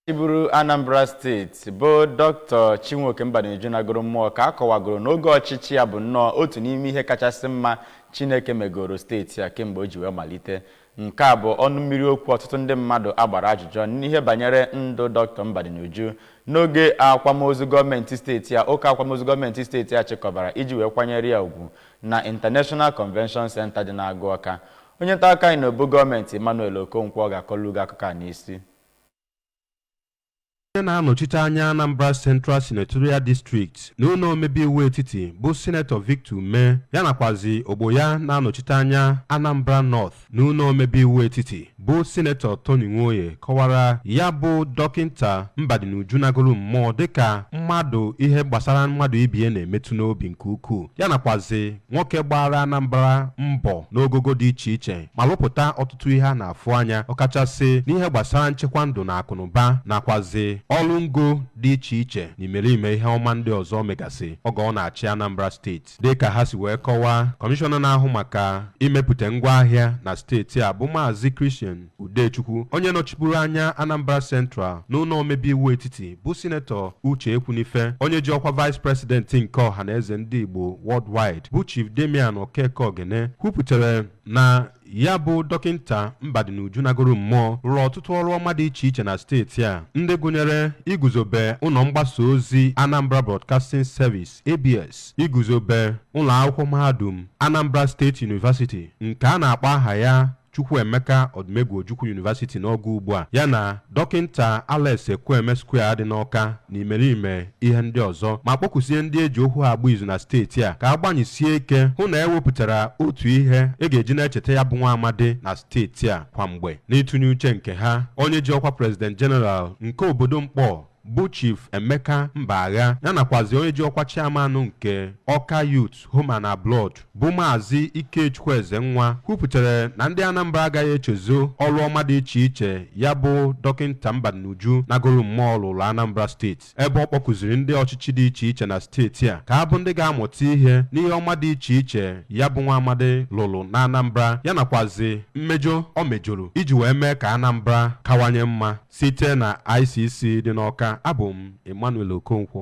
chịburu anambra steeti bụ dọkịta chinwoke mbadinuju nagoro mmụọ ka a kọwagoro na oge ọchịchị ya bụ nnọọ otu n'ime ihe kachasị mma chineke megoro steeti a kemgbe o ji wee malite nke a bụ ọnụ mmiri okwu ọtụtụ ndị mmadụ a gbara ajụjụ ọnụ n'ihe banyere ndụ dọkịta mbadinuju n'oge akwamozu gọọmenti steeti a ụka akwamozu gọọmenti steeti a chịkọbara iji wee kwanyere ya ugwu na international convention center dị n'agụ ọka onye nta akụkọ anyị na obu gọọmenti emmanuel okonkwo ga-akọlụ gị akụkọ a n'isi onye na-anọchite anya Anambra Central Senatorial District na ụlọ omebe iwu etiti bụ Sinetọ Victor Umeh ya nakwazi ogbo ya na-anọchite anya Anambra North na ụlọ omebe iwu etiti bụ Sinetọ Tony Nwoye kọwara ya bụ dọkịnta Mbadinuju nagoro mmụọ dịka mmadụ ihe gbasara mmadụ ibie na-emetụ n'obi nke ukwuu ya nakwazi nwoke gbaara Anambra mbọ n'ogogo dị iche iche ma lụpụta ọtụtụ ihe a na-afụ anya ọkachasị n'ihe gbasara nchekwa ndụ na akụnụba nakwazi ọrụ ngo dị iche iche na imerime ihe ọma ndị ọzọ megasị oge ọ na-achị Anambra steeti dịka ha si wee kọwaa kọmishọna na-ahụ maka imepụta ngwa ahịa na steeti a bụ maazị Christian Udechukwu onye nọchiburu anya Anambra Central n'ụlọ omebe iwu etiti bụ sinetọ Uche Ekwunife onye ji ọkwa vice president nke Ọhanaeze ndị Igbo worldwide bụ Chief Damian Okeke Ogene kwupụtara na ya bụ dọkịnta Mbadinuju nagoro mmụọ rụrụ ọtụtụ ọrụ ọma dị iche iche na steeti a ndị gụnyere iguzobe ụlọ mgbasa ozi Anambra Broadcasting Service ABS iguzobe ụlọ akwụkwọ mahadum Anambra State University nke a na-akpọ aha ya Chukwuemeka Odumegwu Ojukwu University n'oge ugbu a ya na Dọkịnta Alex Ekwueme Square dị n'Awka na imerime ihe ndị ọzọ ma kpọkusie ndị e ji okwu ha agba izu na steeti a ka a gbanyesie ike hụ na e wepụtara otu ihe e ga-eji na-echeta ya bụ nwa amadi na steeti a kwa mgbe. N'ịtụnye uche nke ha, onye ji ọkwa President General nke obodo Nkpor bụ Chief Emeka Mbagha ya nakwazi onye ji ọkwa chairman nke Ọka Youth Home and Abroad bụ Maazị Ikechukwu Ezenwa kwupụtara na ndị Anambra agaghị echezo ọrụ ọma dị iche iche ya bụ dọkịnta Mbadinuju nagoro mmụọ lụụrụ Anambra steeti ebe ọ kpọkuziri ndị ọchịchị dị iche iche na steeti a ka a bụ ndị ga-amụta ihe n'ihe ọma dị iche iche ya bụ nwa amadi lụrụ na Anambra ya nakwazi mmejọ o mejọrọ iji wee mee ka Anambra kawanye mma Site na ICC dị n'Awka, abụ m Emmanuel Okonkwo.